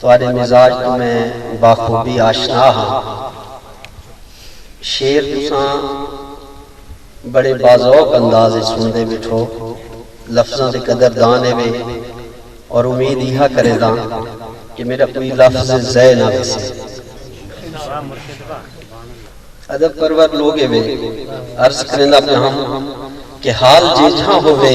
تہاݙے مزاج توں میں باخوبی آشنا ہاں۔ شعر تساں بڑے باذوق انداز اچ سݨدے ٻیٹھو، لفظاں دے قدر دان ہیوے اور امید ایہا کرینداں کہ میݙا کوئی لفظ ضع نہ ویسے۔ ادب پرور لوگ ہیوے، عرض کرینداں پیاں ہم کہ حال جیجھاں ہووے،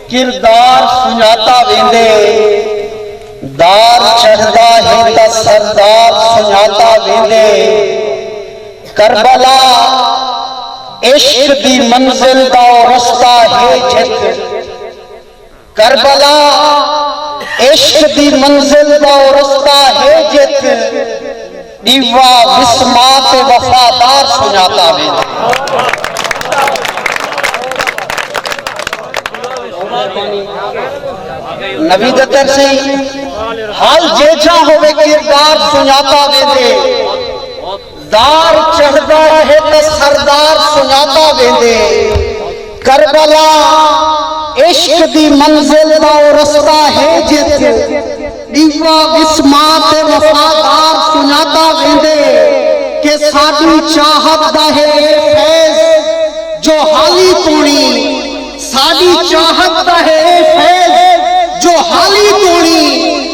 کردار سنڄاتا ویندے دار چڑھدا ہے تاں سردار سنڄاتا ویندے کربلا عشق دی منزل دا او رستہ ہے جت کربلا عشق دی منزل دا او رستہ ہے جت۔ ڈیوا وسما تے وفادار سنجاتا ویندے۔ نبی دے ترسی حال جیچا ہوئے کردار سنجاتا ویندے۔ دار چڑھدا رہے تے سردار سنجاتا ویندے۔ کربلا عشق دی منزل دا او رستہ ہے جت ڈیوا وسما تے وفادار سنجاتا ویندے کہ ساڈی چاہت دا ہے اے فیض جو حالی توڑی ساڈی چاہت دا ہے اے فیض جو حالی توڑی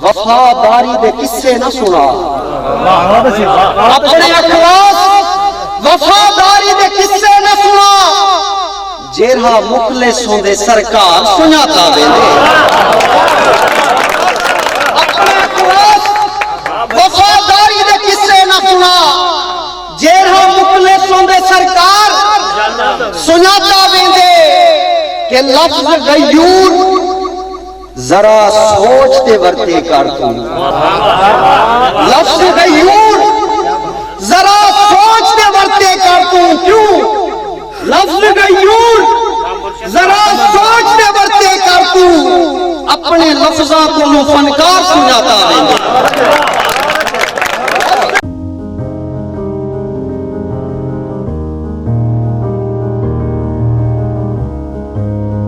وفا داری دے قصے نہ سنا اپنے اخلاص وفا داری دے قصے نہ سنا جیرھا مخلص ہوندے سرکار سنیا تا ویندے اپنے اخلاص وفا داری دے قصے نہ سنا جیرھا مخلص ہوندے سرکار سنیا تا ویندے کہ لفظ غیور ذرا سوچ تے ورتے کر توں لفظ غیور ذرا سوچ تے ورتے کر توں کیوں لفظ غیور ذرا سوچ تے ورتے کر توں اپنے لفظاں کولوں فنکار سنجاتا ویندے